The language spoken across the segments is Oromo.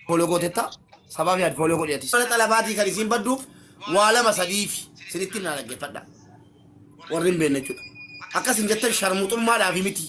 follow gootetta sabaaf yaad follow godhi atis. Mana xalabaatii kan isiin badduuf waa lama sadiifi sinitti naa dhaggeeffadha. Warri hin beekne jechuudha. Akkas hin jettan sharmuxummaadhaafi miti.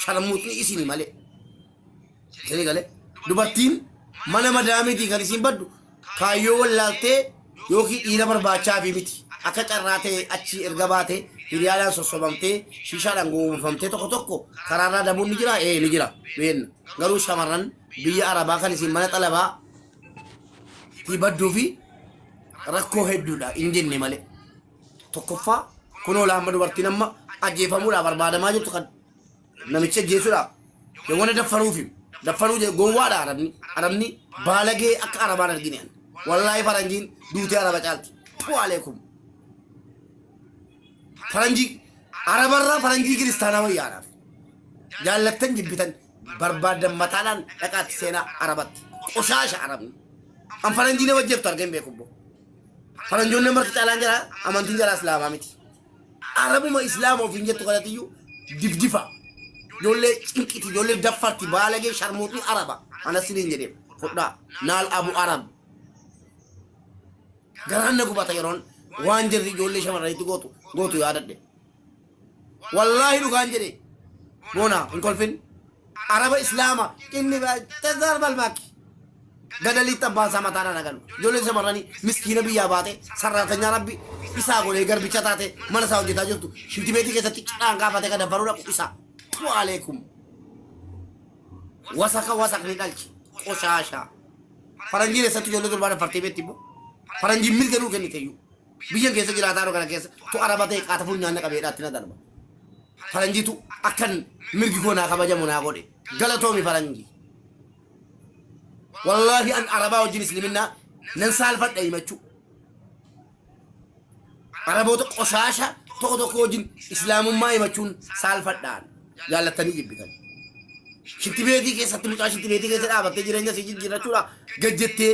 Sharmuxni isini malee. Isinii galee dubartiin mana madaamiitii kan isiin baddu kaayyoo wallaaltee yookiin dhiira barbaachaafi miti. Akka carraa ta'e achi erga baate hiriyaadhaan sossobamtee shiishaadhaan gowwoomfamtee tokko tokko karaarraa dabuun ni jira ee ni jira beenna. Garuu shamarran biyya arabaa kan isin mana xalabaa tii badduu fi rakkoo hedduudha hin jenne malee tokkoffaa kunoo laamma dubartiin amma ajjeefamuudhaa barbaadamaa jirtu kan namicha ajjeesuudhaa yawwana daffaruufi daffaruu jedhe gowwaadha arabni arabni baalagee akka arabaan argine ani wallaahi faranjiin duutee araba caalti tuu aleekum faranjii arabarraa faranjii kiristaanaa wayyaadhaaf jaallattan jibbitan barbaadan mataadhaan dhaqaatti seenaa arabatti qoshaasha arabni an faranjiilee wajjirtu argeen beeku bbo faranjoonni marti caalaan jira amantiin jala islaamaa miti arabuma islaama ofiin jettu kanatiyyuu difdifa ijoollee cinqiti ijoollee daffarti baalagee sharmuuxni araba anas siniin jedhe fudhaa naal abu arab garaan na gubata yeroon waan jirri ijoollee shamarranitti gootu gootu yaadadhe wallaahi dhugaan jedhe boonaa hin kolfin araba islaama inni tazar balmaaki gadaliitti abbaan isaa mataadhaan hagalu ijoolleen shamarranii miskiina biyyaa baate sarraatanyaa rabbi isaa godhee garbicha taate mana isaa hojjetaa jirtu shintibeetii keessatti cidhaan kaafate ka dabbaruu dhaqu isaa tu aleekum wasaka wasakni dhalche qoshaashaa faranjiin eessatti ijoollee durbaa dafartee beetti immoo faranjiin mirga nuu kennite iyyuu Biyyan keessa jiraataanu kana keessa tu araba ta'e qaatafuun nyaanna qabe hidhaatti na darba. Faranjiitu akkan mirgi koo naa kabajamu naa godhe. Galatoomi faranjii. Wallaahi an arabaa wajjin isliminnaa nan saalfadha himachuu. Araboota qoshaasha tokko tokko wajjin islaamummaa himachuun saalfadhaan jaallattanii jibbitan. Shintibeetii keessatti mucaa shintibeetii keessa dhaabattee jireenya sii jijjiirrachuudha gajjettee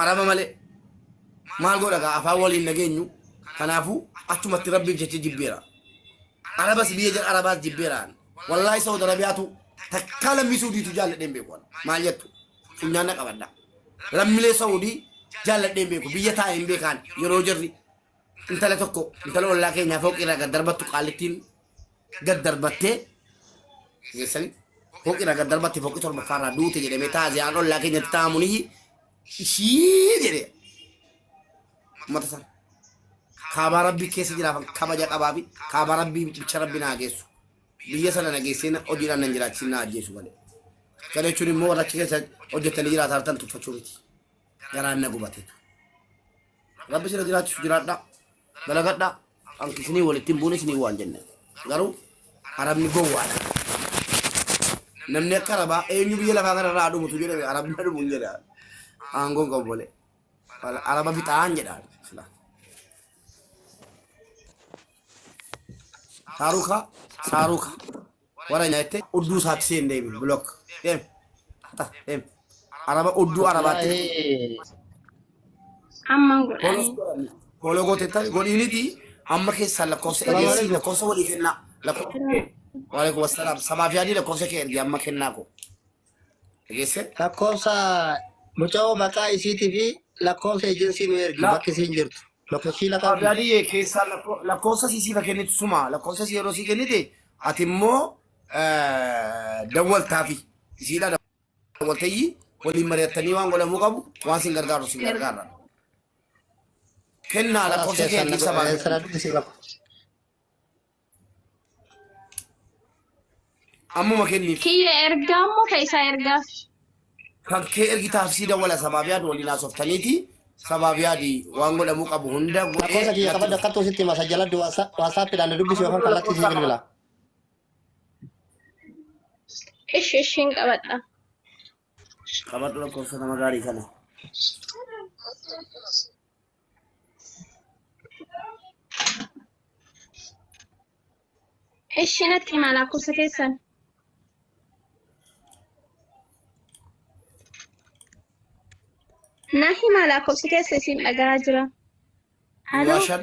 arama male maal godha gaa afaan waliin nageenyu kanaafu achumatti rabbiif jecha jibbeera arabas biyya jira arabaas jibbeeraan wallaahi saud arabiyaatu takkaa lammii suudiitu jaalladheen beeku ana maal jettu funyaan na qabadha lammilee saudii jaalladheen beeku biyya taa'e hin beekaan yeroo jirri intala tokko intala ollaa keenyaa fooqii irraa gad darbattu qaallittiin gad darbattee keessanii fooqirraa gad darbatte fooqii torbaffaarraa duute jedhamee taaziyaan ollaa keenyatti taamuniyyi ishii jedhe ummata sana kaabaa rabbii keessa jiraafan kabaja qabaa fi kaabaa rabbii bicha rabbi naa geessu biyya sana na geessee na- hojiidhaan nan jiraachisin na ajjeesu malee kana jechuun immoo warra achi keessa hojjettanii jiraatan tuffachuu miti garaan na gubatee Rabbi sira jiraachisu jiraadhaa. Dalagadhaa. Kan isinii walitti hin buune isinii waan jenne. Garuu Arabni gowwaadha. Namni akka Arabaa eenyu biyya lafaa kanarraa haa dhumutu jedhame Arabni haa dhumu hin jedha. Aangoo hin qabu malee. Wala- Araba fixaan jedha. Sila. Saaruka saaruka. wara nyatte odduu saatti si hin deebiin block deem hata deem araba odduu arabaatti Waa'ee Amman follow godhanii. si godhanni follow gootettan godhiiniti amma keessaan lakkoofsa Salaam egeessii alaikum. lakkoofsa walii kennaa lakkoofsa Salaam. waalaikum assalaam sabaaf yaadii lakkoofsa kee ergi amma kennaa koo Dhageesse? Lakkoofsa muca'oo maqaa isiitii fi lakkoofsa ejensii nu ergi La- bakki isiin jirtu. Lakkoofsii lataa fi Abdaadiyye keessaa lakko- lakkoofsa sii siifa kennitu suma lakkoofsa sii yeroo sii kennite ati immoo eh, dawwaltaafi isiidha dawwaltayyi waliin mari'attanii waan godhamuu qabu waan sin gargaaru sin gargaarra. Kennaa lakkoofsa kee keessaa baafadhu. Siraan dhisi bakka. Ammuma kenniif. Kiyya ergaa immoo ka isaa ergaaf. Kan kee ergitaaf sii dawwala sabaabiyaad waliin haasoftaniiti. Sabaabiyaadi waan godhamuu qabu hunda godhee. Lakkoofsa kiyya qabadhu akkattuu sitti hima sajjaladhu waasaappiidhaan na dubbisi yookaan kallattii sii bilbila. Ishi ishiin qabadha. Qabadhu lakkoofsa nama gaarii kana. Ishi natti himaa lakkoofsa keessan. Na himaa lakkoofsa keessa isin dhagaa jira. Duwwaa Aloo shan.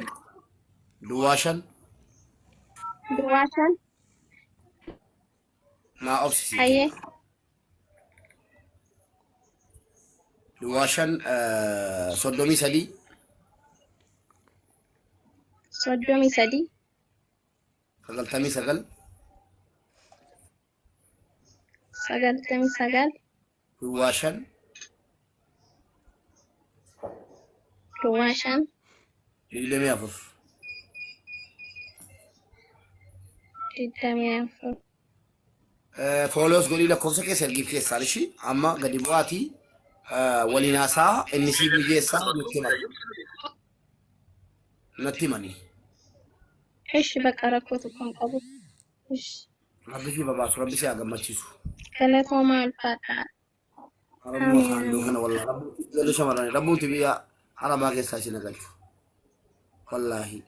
Duwwaa shan. duwwaa shan. Maa obsisiiti. Hayyee. Duwwaa shan eh, soddomii sadii Soddomii sadii. sagaltamii sagal Sagaltamii sagal. Duwwaa shan. Duwwaa shan. Digdamii afur. Digdamii afur. Fooloos godhii lakkoofsa keessa ergiif keessaan ishii amma gadi bu'aatii waliin haasaa inni siif mijeessaa nutti himan. Natti himanii. Ishi bakka rakkoo tokko hin qabu. Ishi. Rabbi si babaasu, rabbi si haa gammachiisu. Galatoomaa ulfaadhaa. Rabbi Amiin. makaan duu kana wallaahi. Rabbi ijoollee shamarranii rabbuuti biyya arabaa keessaa isin galchu. Wallaahi.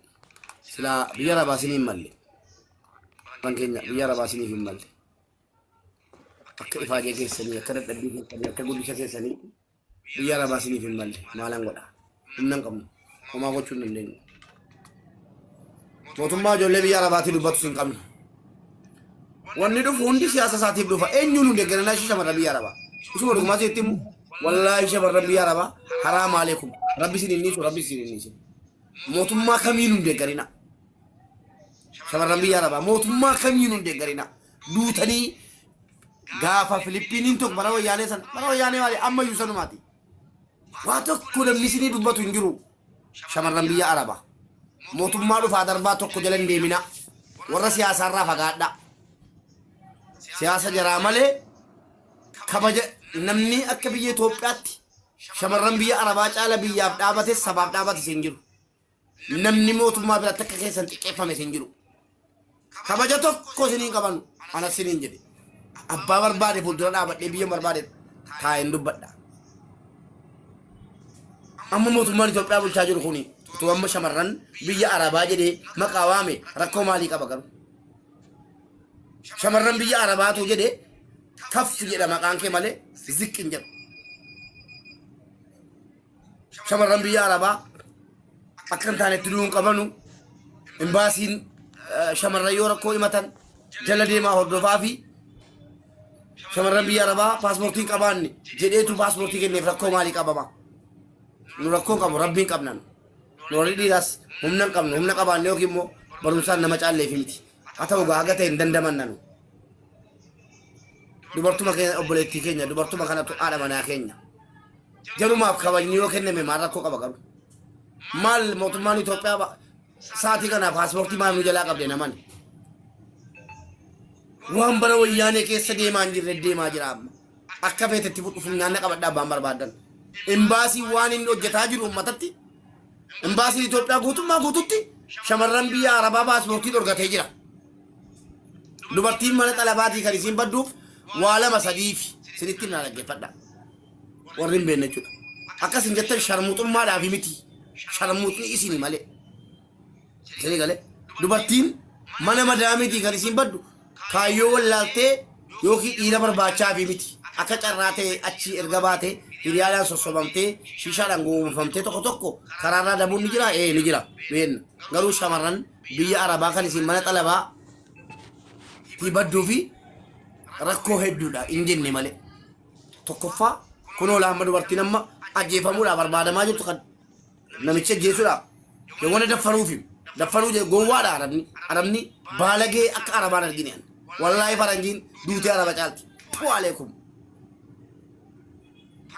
Silaa biyya arabaa isin hin malle. Kan keenya biyya arabaa isiniif hin malle. Akka ifaajee keessanii, akka dadhabbii keessanii, akka guddisa keessanii Biyya arabaa siniif hin malle maalan godha humna hin qabnu homaa gochuu hin dandeenyu mootummaa ijoollee biyya arabaatii dubbatus hin qabnu wanni dhufu hundi siyaasa isaatiif dhufa eenyuun hin deeggaranaa ishee shamarra biyya arabaa isuma dhugumaa sitti himu wallaahi shamarra biyya arabaa haraa maalee kun rabbi isin hin dhiisu rabbi isin hin dhiisu mootummaa kamiin hin deeggarina shamarran biyya arabaa mootummaa kamiin hin deeggarina duutanii gaafa Filippiniin tokko bara wayyaanee sana bara wayyaanee maali amma iyyuu sanumaati. Waa tokko namni isinii dubbatu hin jiru. Shamarran biyya Arabaa. Mootummaa dhufaa darbaa tokko jala hin deemina. Warra siyaasaarraa fagaadha. Siyaasa jaraa malee kabaja namni akka biyya Itoophiyaatti shamarran biyya Arabaa caala biyyaaf dhaabates sabaaf dhaabates hin jiru. namni mootummaa biratti akka keessan xiqqeeffame isin jiru. Kabaja tokko isiniin qabanu ana isiniin jedhe. Abbaa barbaade fuuldura dhaabadhee biyya barbaade taa'een dubbadha. Amma mootummaan Itoophiyaa bulchaa jiru kuni utuu amma shamarran biyya Arabaa jedhee maqaa waame rakkoo maalii qaba garuu? Shamarran biyya Arabaatu jedhee kaffi jedha maqaan kee malee ziqqin jedhu. shamarran biyya arabaa akka hin taane itti du'uu hin qabanu imbaasiin eh, shamarran yoo rakkoo himatan jala deemaa hordofaa fi shamarran biyya arabaa paaspoortii hin qabaanne jedheetu paaspoortii kenneef rakkoo maalii qabama nu rakkoo hin qabnu rabbiin qabna nu nu warri dhiiraas humna hin qabnu humna qabaanne yookiin immoo barumsaan nama caalleef miti haa ta'u gaa haga ta'e hin dandamanna nu dubartuma keenya obboleettii keenya dubartuma kanatu haadha manaa keenya Jarumaaf kabajni yoo kenname maal rakkoo qaba garuu? Maal mootummaan Itoophiyaa ba- sa'aatii kana paaspoortii maal nu jalaa qabde naman? Waan bara wayyaanee keessa deemaa hin jirre deemaa jira amma. Akka feetetti fudhu funyaanna qabadhaa abbaan barbaadan. Imbaasiin waan inni hojjetaa jiru uummatatti imbaasiin Itoophiyaa guutummaa guututti shamarran biyya Arabaa paaspoortii dhorgatee jira. Dubartiin mana xalabaatii kan isiin badduuf waa lama sadiifi sinitti na dhaggeeffadha. warri hin beekne jechuudha. Akkas hin jettan sharmuxummaadhaaf miti. Sharmuxni isini malee. Isinii galee dubartiin mana madaamiitii kan isiin baddu kaayyoo wallaaltee yookiin dhiira barbaachaafi miti. Akka carraa ta'e achi erga baate hiriyaadhaan sossobamtee shiishaadhaan gowwoomfamtee tokko tokko karaarraa dabuun ni jira ee ni jira beenna. Garuu shamarran biyya arabaa kan isiin mana xalabaa tii badduu fi rakkoo hedduudha hin jenne malee. tokkoffaa kunoo laamma dubartiin amma ajjeefamuudhaa barbaadamaa jirtu kan namicha ajjeesuudhaa yawwana daffaruufi daffaruu jee gowwaadha arabni arabni baalagee akka arabaan argine an wallaahi faranjiin duutee araba caalti tuu aleekum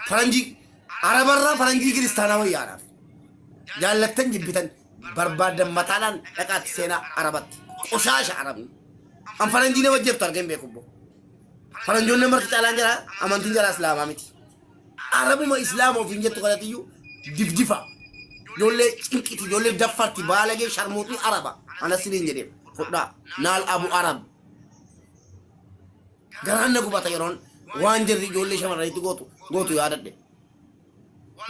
faranjii arabarraa faranjii kiristaanaa wayyaadhaaf jaallattan jibbitan barbaadan mataadhaan dhaqaatti seenaa arabatti qoshaasha arabni an faranjii nama ajjeeftu argeen beeku boo Faranjoonni marti caalaan jara amantiin jara islaamaa miti. Arabuma islaama ofiin jettu kanatiyyuu difdifa. Ijoollee cinqiti, ijoollee daffarti, baalagee sharmuuxni araba. Anas siniin jedhee fudhaa naal abu arab. Garaan na gubata yeroon waan jirri ijoollee shamarranitti gootu gootu yaadadhe.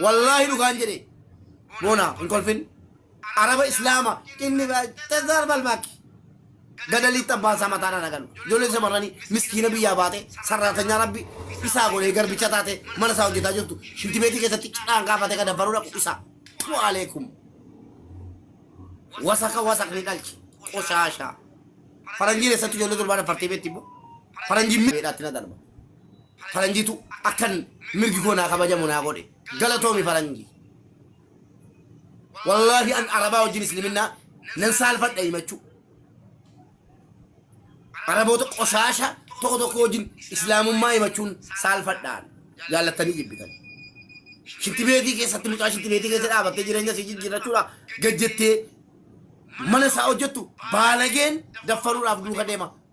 Wallaahi dhugaan jedhe. Boona hin kolfin. Araba Islaama inni tazaar balbaakki. Gadaliitti abbaan isaa mataan ana galu. Ijoollee shamarranii miskiina biyyaa baate sarraatanyaa rabbi isaa godhee garbicha taate mana isaa hojjetaa jirtu shintibeetii keessatti cidhaan kaafate ka dabbaruu dhaqu isaa. Tuu aleekum. Wasaka wasakni dhalche. Qoshaashaa. Faranjiin eessatti ijoollee durbaa dafartee beetti immoo. Faranjiin miidhaatti na darba. faranjiitu akkan mirgi koo naa kabajamu naa godhe galatoomi faranji wallaahi an arabaa wajjin isliminaa nan saalfadha himachuu araboota qoshaasha tokko tokko wajjin islaamummaa himachuun saalfadhaan jaallattanii jibbitan shitti beetii keessatti mucaa shitti beetii keessa dhaabattee jireenya si jijjiirrachuudha gajjettee mana isaa hojjettu baalageen daffaruudhaaf duuka deema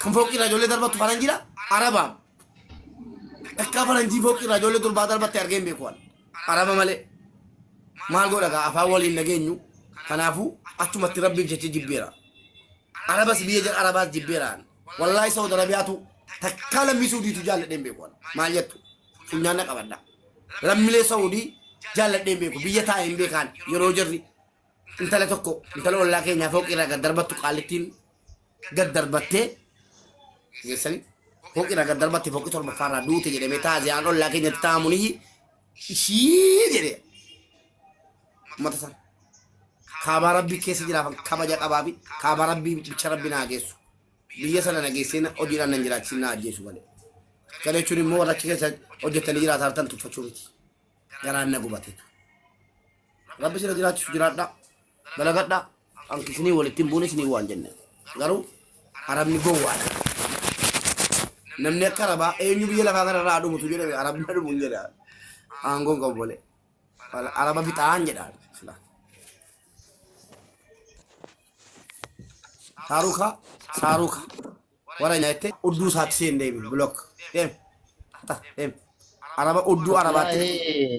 kan fooqii irraa ijoollee darbattu faranjiidha arabaa takkaa faranjii fooqii irraa ijoollee durbaa darbatte argee hin beeku ani araba malee maal godha gaa afaan waliin nageenyu kanaafuu achumatti rabbiif jecha jibbeera arabas biyya jedha arabaas jibbeera ani wallaahi saudi arabiyaatu takkaa lammii suudiitu jaalladhee hin beeku ani maal jettu funyaan na qabadha lammilee saudii jaalladhee hin beeku biyya taa'e hin beekaan yeroo jirri intala tokko intala ollaa keenyaa fooqii irraa gad darbattu qaallittiin gad darbattee geessanii fooqii irraa gad darbatte fooqii torbaffaa irraa duute jedhamee taaziyaan ollaa keenyatti taa'amuun iyyi ishii jedhe ummata sana kaabaa rabbii keessa jiraafan kabaja qabaa fi kaabaa rabbii bicha rabbi naa geessu biyya sana na geessee na- hojiidhaan nan jiraachisin na ajjeesu malee kana jechuun immoo warra achi keessa hojjetanii jiraata hartan tuffachuu miti garaan na gubateetu Rabbi sira jiraachisu jiraadhaa. Dalagadhaa. Kan isinii walitti hin buune isinii waan jenne. Garuu arabni gowwaadha. Namni akka arabaa eenyu biyya lafaa kanarraa haa dhumutu jedhame arabni haa dhumu hin jedha. Aangoon qabu malee. Wala- Araba fixaan jedha. Sila. Saaruka saaruka warra nyaatte odduu isaatti seen deemi blok deem. Ata deem. Araba odduu arabaatti. Wallahi